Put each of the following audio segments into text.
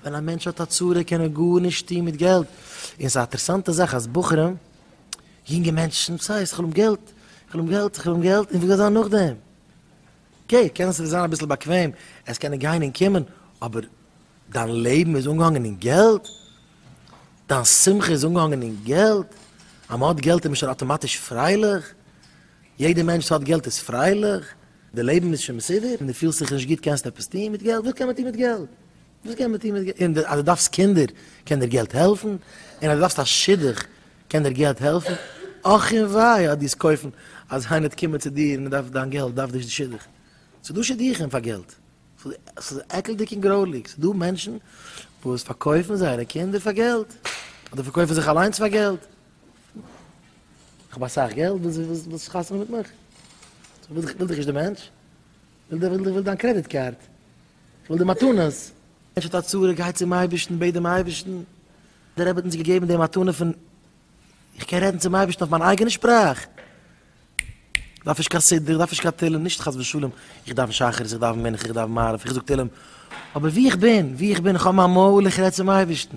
ווען א מענטש האט א צרה קען ער גארנישט טון מיט געלט, און ס'איז א אטערסאנטע זאך אז בחורים, יונגע מענטשן, סאיז איך וויל געלט, איך וויל געלט, איך וויל געלט, און וואס גייט זיין נאכדעם? אקעי, קען עס זיין אביסל באקוועם, עס קענען גיין און קומען, אבער דיין לעבן איז אנגעהאנגען אין געלט? דיין שמחה איז אנגעהאנגען אין געלט? אז מ'האט געלט איז מען שוין אטאמאטיש פרייליך? יעדע מענטש וואס האט געלט איז פרייליך? די לעבן איז שוין מסודר און דו פילסט זיך נישט גוט קענסטו עפעס טון מיט געלט? וואס קען מען טון מיט געלט? וואס קען מען טון מיט געלט? און אז דו דארפסט קינדער קען דיר געלט העלפן? און אז דו דארפסט א שידוך קען דיר געלט העלפן? אך און וויי אז דאס קויפן אז איינער קומען צו דיר און ער דארף דיין געלט דארף נישט די שידוך. ס'איז דא שידוכים פאר געלט. ס'איז עקלדיג און גרויליג. ס'איז דא מענטשן וואס פארקויפן זייערע קינדער פאר געלט, אדער פארקויפן זיך אליינס פאר געלט. איך האב אסאך געלט, ווילסט חתונה מיט מיך? איך וויל דיך נישט די מענטש, איך וויל דיין קרעדיט קארד, איך וויל די מתנות. מענטש האט א צרה, גיי צום אייבערשטן, בעט דעם אייבערשטן, דער רבי האט אונז געגעבן די מתנה פון איך קען רעדן צום אייבערשטן אויף מיין אייגענע שפראך, איך דארף נישט קיין סידור, איך דארף נישט קיין תהלים, נישט חס ושלום איך דאוון שחרית, איך דאוון מנחה, איך דאוון מעריב, איך זאג תהלים, אבער ווי איך בין, ווי איך בין, איך האב מיין מויל, איך רעד צום אייבערשטן,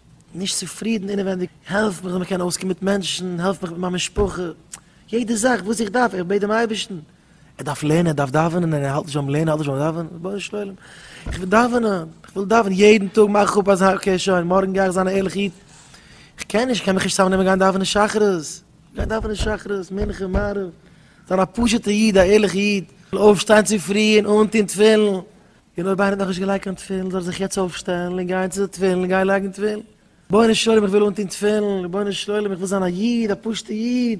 נישט צופרידן אינעווענדיג, העלף מיך זאל מען קענען אויסקומען מיט מענטשן, העלף מיך מיט מיין משפחה, יעדע זאך וואס איך דארף, איך בעט דעם אייבערשטן, ער דארף לערנען, ער דארף דאווענען, ער האלט נישט ביים לערנען, ער האלט נישט ביים דאווענען, רבונו של עולם, איך וויל דאווענען, איך וויל דאווענען, יעדן טאג מאך איך אפ אז אקעי שוין, מארגן גיי איך זיין א ערליכע איד, איך קען נישט, איך קען מיך נישט צוזאמנעמען גיין דאווענען שחרית, גיין דאווענען שחרית, מנחה, מעריב, זיין א פשוט'ע איד, א ערליכע איד, אויפשטיין צופרי און אנטון תפילין, און אויב איינער האט נאכנישט געלייגט קיין תפילין זאל ער זיך יעצט אויפשטעלן און גיין צו די תפילין און גיין לייגן תפילין. רבונו של עולם איך וויל אנטון תפילין, רבונו של עולם איך וויל זיין א איד, א פשוט'ע איד.